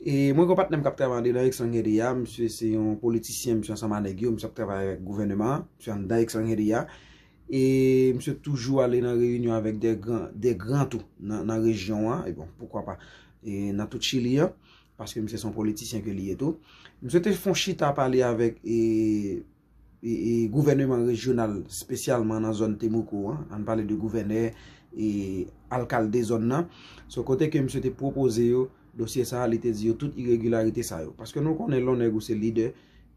E mwen gen yon patnè m k ap travay andedan Exxon Headey a, misye se yon politisyen, misye ansanm a nèg yo, misye ap travay avèk gouvèneman an, misye anndan Exxon Headey a, e misye toujou ale nan reyinyon avèk de gran tou nan rejyon an, e bon, poukwa pa, e nan tout Chili an, paske misye se yon politisyen ke li ye tou. Misye te fon chita pale avèk e... Gouvèneman rejyonal spesyalman nan zòn Temuco an, an pale de gouvènè e alkalde zòn nan, se kote ke misye te pwopoze yo dosye sa a, li te di yo tout iregilarite sa yo. Paske nou konnen lè w nèg ou se lidè,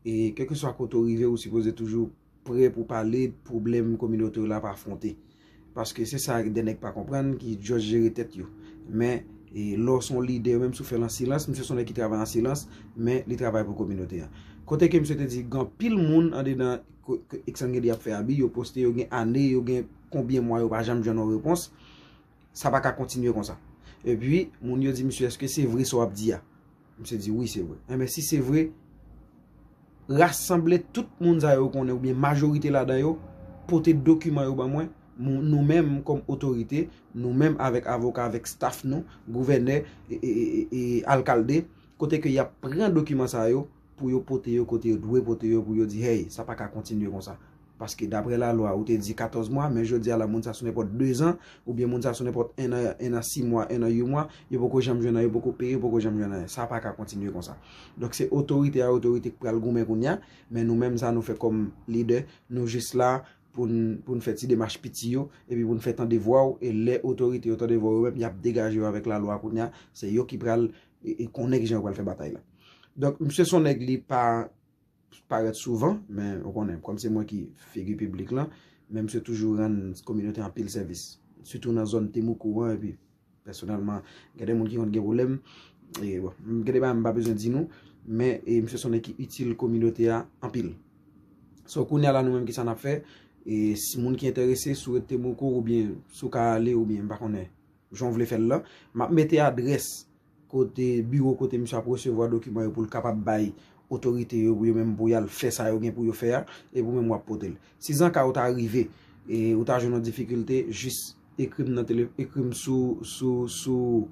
e kèlkeswa kote w rive ou sipoze toujou pre pou pale pwoblèm kominote w la ap afwonte. Paske se sa de nèg pa konprann ki just jere tèt yo. Men, lè w se yon lidè, menm si w fè l an silans, misye se yon nèg ki travay an silans, men li travay pou kominote a. Kote ke misye te di, gen anpil moun andedan Exxon gen di ap fè abi, yo poste, yo gen ane, yo gen konbyen mwa yo pa janm jwenn yon repons, sa pa ka kontinye konsa. Epi, moun yo di misye, eske se vre sa w ap di a? Misye di wi se vre. Enben si se vre, rasanble tout moun sa yo konnen oubyen majorite ladan yo, pote dokiman yo ban mwen, nou menm kòm otorite, nou menm avèk avoka, avèk staff nou, gouvènè, e alkalde, kote ke yap pran dokiman sa yo, pou yo pote yo kote yo dwe pote yo, pou yo di hey, sa pa ka kontinye konsa. Paske dapre lalwa ou te di 14 mwa, men jodi a la moun sa sou nenpòt 2 zan, oubyen moun sa sou nenpòt 1 an, 1 an 6 mwa, 1 an 8 mwa, yo poko janm jwenn anyen, yo poko peye, yo poko janm jwenn anyen. Sa pa ka kontinye konsa. Donk se otorite a otorite k pral goumen kounye a, men nou menm sa nou fè kòm lidè, nou jis la pou n pou n fè ti demach piti yo, epi pou n fè tande vwa w, e lè otorite yo tande vwa w yo menm, y ap degaje yo avèk lalwa kounye a, se yo ki pral konnen kijan yo pral fè batay la. Donk msye s on nèg li pa. parèt souvan, men ou konnen, kòm se mwen ki figi piblik lan, men misye toujou rann kominote anpil sèvis. Sitou nan zòn Temoukou an, epi, pèsonèlman, gen de moun ki konn gen pwoblèm, e, bon, gen de bagay m pa bezwen di nou, men, e, misye se yon nèg ki itil kominote a anpil. So, kounye a la nou menm ki sa n ap fè, e, si moun ki enterese sou rete Temoukou, oubyen, sou ka ale, oubyen, m pa konnen, jan w vle fè l lan, m ap mete adrès kote biwo kote misye ap resevwa dokiman yo pou l kapab bay otorite yo pou yo menm pou y al fè sa yo gen pou yo fè a, epi ou menm w ap pote l. Sizanka ou ta rive e ou ta jwenn yon difikilte, jis ekri m nan tele, ekri m sou, sou, sou,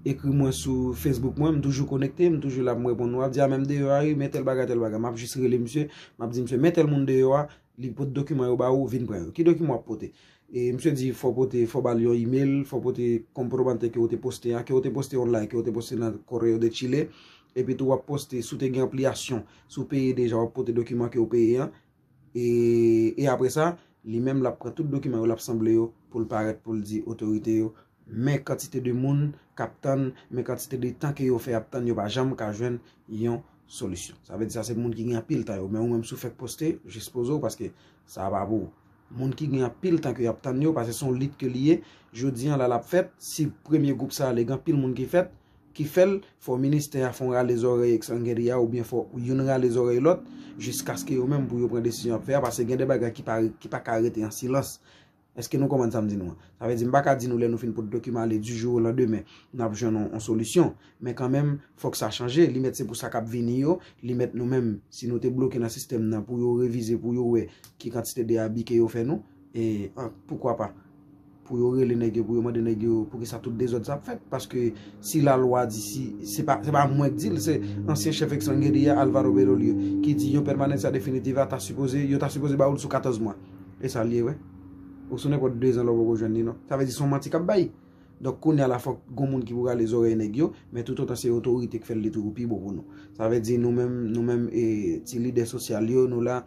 ekri mwen sou Facebook mwen, m toujou konekte, m toujou la pou m reponn ou. Ou ap di a men m deyò a wi, men tèl bagay, tèl bagay. M ap jis rele misye, m ap di misye men tèl moun deyò a, Li pot dokiman yo ba ou, vin pran yo. Ki dokiman wap pote? E misye di fò pote, fò bal yon email, fò pote kom probante ke ou te poste a, ke ou te poste online, ke ou te poste nan Correo de Chile. E pi tou wap poste, si ou te gen anpliyasyon, si ou peye deja wap pote dokiman ke ou peye an. E apre sa, li menm lap pran tout dokiman yo, lap sanble yo, poul parèt, poul di otorite yo, Men kantite de moun kap tann, men kantite de tan ke yo fè ap tann yo pa janm ka jwenn yon solisyon. Sa vle di sa se moun ki gen anpil tan yo. Men ou menm si ou fèk poste, jis poze ou paske sa a pa pou ou. Moun ki gen anpil tan ke yap tann yo, paske se yon lit ke li ye, jodi an la lap fèt, si premye gwoup sa a li gen anpil moun ki fèt, ki fèl, fò ministè a fon rale zòrèy Exsanguerie a oubyen fò youn rale zòrèy lòt, jiskaske yo menm pou yo pran desizyon yap fè a, paske gen de bagay ki pa ka rete an silans. Eske nou konprann sa m di nou an? Sa vle di m pa ka di nou lè nou fin pot dokiman ale di jou o landemen n ap jwenn yon solisyon. Men kanmenm, fòk sa chanje. Li mèt se pou sa k ap vini yo, li mèt nou menm, si nou te bloke nan sistèm nan pou yo revize, pou yo wè ki kantite de abi ke yo fè nou. E poukwa pa, pou yo rele nèg yo, pou yo mande nèg yo pou ki sa tout dezòd sa ap fèt. Paske si lalwa di, si se pa mwen k di l, se ansyen chèf Exsangue de a, Alvaro Berrolir, ki di yon pèmanencia definitiva ta sipoze, yo ta sipoze ba ou l sou 14 mwa. E sa l ye vre? Ou sou nenpòt dezan la ou poko jwenn li non. Sa vle di se yon manti k ap bay. Donk kounye a la fòk gon moun ki pou rale zòrèy nèg yo, men toutotan se otorite k fè l li toujou pi bon pou nou. Sa vle di nou menm, nou menm e ti lidè sosyal yo, nou la,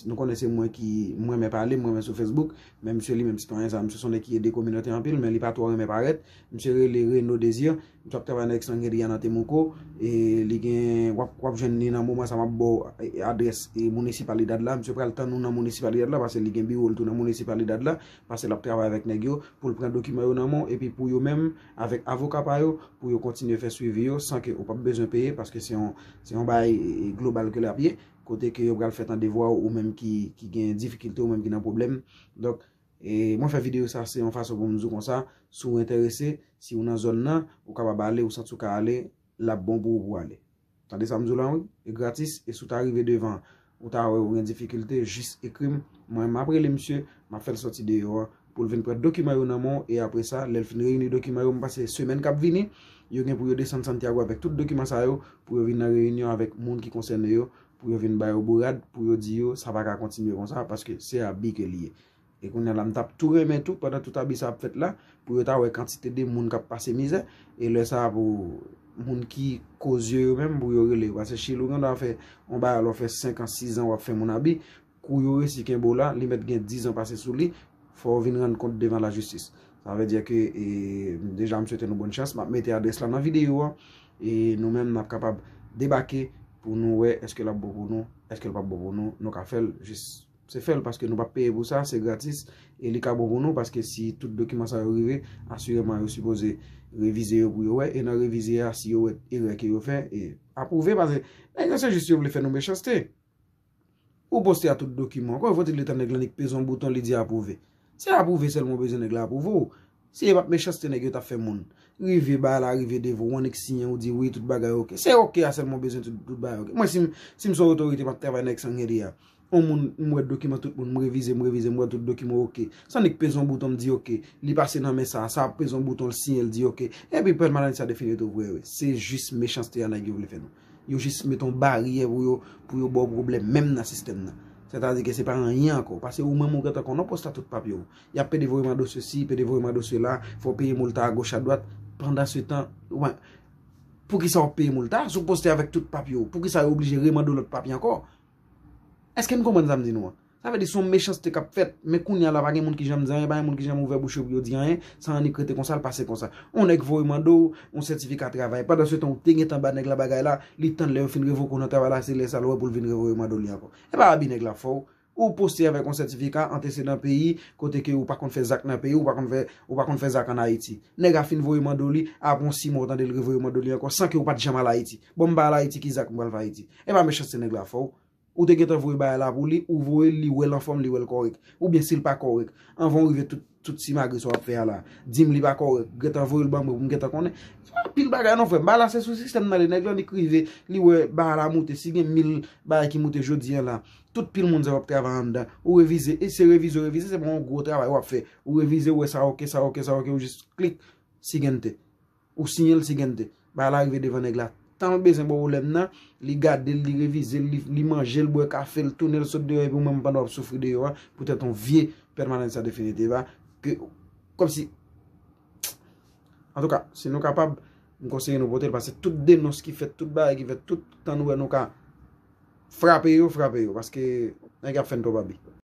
nou konnen se mwen ki, m renmen pale, m renmen sou Facebook, men msye li menm sitwayen sa, msye s on nèg ki ede kominote anpil, men li pa twò renmen parèt, Misye rele Reno Desir, misye ap travay nan Ex Santeria nan Temuco, e li gen, wap jwenn li nan moman sa map baw adrès Municipalidad la, misye pral tann ou nan Municipalidad la pase li gen biwo l tou nan Municipalidad la, pase lap travay avèk nèg yo poul pran dokiman yo nan men w epi pou yo menm avèk avoka pa yo pou yo kontinye fè swivi yo san ke ou pap bezwen peye paske se yon se yon bagay global ke lap ye kote ke yo pral fè tande vwa w ou menm ki gen difikilte ou menm ki nan pwoblèm donk E mwen fè video sa se yon fason pou m di w konsa, si w enterese, si w nan zòn nan, ou kapab ale, ou santi w ka ale, l ap bon pou ou pou w ale. Tande sa m di w lan wi, e gratis, e si w ta rive devan, ou ta wè ou gen difikilte, jis ekri m, mwen m ap rele misye, m ap fè l sòti deyò an, pou l vin pran dokiman yo nan men w, e apre sa, lè l fin reyini dokiman yo, m panse semèn k ap vini, yo gen pou yo desann Santiago avèk tout dokiman sa yo, pou yo vin nan reyinyon avèk moun ki konsène yo, pou yo vin ba yo bourad, pou yo di yo sa pa ka kontinye konsa paske se abi ke li ye. E kounye la m t ap tou renmen tou pandan tout abi sa ap fèt la pou yo ta wè kantite de moun k ap pase mizè e lè sa pou moun ki kozye yo menm pou yo rele yo. Pase chili ou gen dwa fè yon bagay la ou fè senkan, sizan w ap fè moun abi Kou yo resi kenbe w la, li mèt gen 10 ans pase sou li, fò w vin rann kont devan la jistis. Sa vle di ke deja m swete nou bòn chans, map mete adrès la nan videyo an e nou menm nap kapab debake pou nou wè eske lap bon pou nou, eske l pap bon pou nou, nou ka fè l jis se fè l paske nou pap peye pou sa, se gratis e li ka bon pou nou paske si tout dokiman sa yo rive, asireman yo sipoze revize yo pou yo wè e nan revize a si yo wè erè ke yo fè e apwouve paske nèg yo se jis yo vle fè nou mechanste. Ou poste a tout dokiman. Kòman fòtil de tan nèg lan li k peze yon bouton li di apwouve. Se apwouve sèlman ou bezwen nèg la apwouve w. Si e pat mechanste nèg yo tap fè moun. Rive bagay la rive devan w annik siyen ou di wi tout bagay ok. Se ok a sèlman ou bezwen tout bagay ok. Mwen si m son otorite map travay nan Exsanguerie a. On moun m wè dokiman tout moun m revize m revize m wè tout dokiman ok. Se annik peze yon bouton m di ok. Li pase nan men sa a. Sa a peze yon bouton l siyen l di ok. Epi pèmanan sa definitou vre wi. Se jis mechanste a nèg yo vle fè nou. Yo jis met yon baryè pou yo, pou yo ba w pwoblèm menm nan sistèm nan. Sètadi ke se pa anyen ankò. Pase ou menm ou gentan konnen w pòs la tout papye w. Y ap pede voye mande w sesi, pede voye mande w sela, fò w peye moulta agoch adwat. Pandansetan, oubyen, poukisa w ap peye moulta si w poste avèk tout papye w? Poukisa yo oblije remande w lòt papye ankò? Èske n konprann sa m di nou an? Sa vle di son mechanste k ap fèt, men kounye a la pa gen moun ki janm di anyen, pa gen moun ki janm ouvè bouch yo pou yo di anyen, sa annik rete konsa, l pase konsa. On nèg voye mande w on sètifika travay, pandansetan ou te gentan ba nèg la bagay la, li tann lè yo fin revoke w nan travay la, se lè sa l wè pou l vin revoye mande w li ankò. E pa abi nèg la fè w. Ou poste avèk on sètifika antesedan peyi, kote ke ou pa konn fè zak nan peyi w, ou pa konn fè, ou pa konn fè zak an Ayiti. Nèg a fin voye mande w li, apre on si mwa ou tande l revoye mande w li ankò, san ke ou pa t janm al Ayiti. Bon m pa al Ayiti ki zak m pral fè Ayiti? E pa mechanste nèg la fè w. Ou te gentan voye bagay la pou li, ou voye l li wè l anfòm, li wè l kòrèk. Oubyen si l pa kòrèk, anvan ou rive tout simagri sa w ap fè a la, di m li pa kòrèk, gentan voye l ban mwen pou m gentan konnen. Se pa anpil bagay non frè m, bagay la se sou sistèm nan li, nèg lan li k rive, li wè bagay la moute, si gen mil bagay ki moute jodi an la, tout pil moun sa yo ap travay anndan, ou revize, e se revize ou revize, se pa yon gwo travay w ap fè, ou revize ou wè sa ok, sa ok, sa ok, ou jis klik, sigen te. Ou siyenl si gente. Bagay la rive devan nèg la. Tanl bezwen pwoblèm nan, li gadel, li revizel, li manjel, bwè kafel, tounenl sot deyò epi ou menm pandan wap soufri deyò a poutèt yon vye permanencia definitiva ke kòmsi Antouka, si nou kapab, m konseye nou potel paske tout denons ki fèt, tout bagay ki fèt, tout tan nou wè nou ka frape yo, frape yo paske nèg yo ap fèn twòp abi.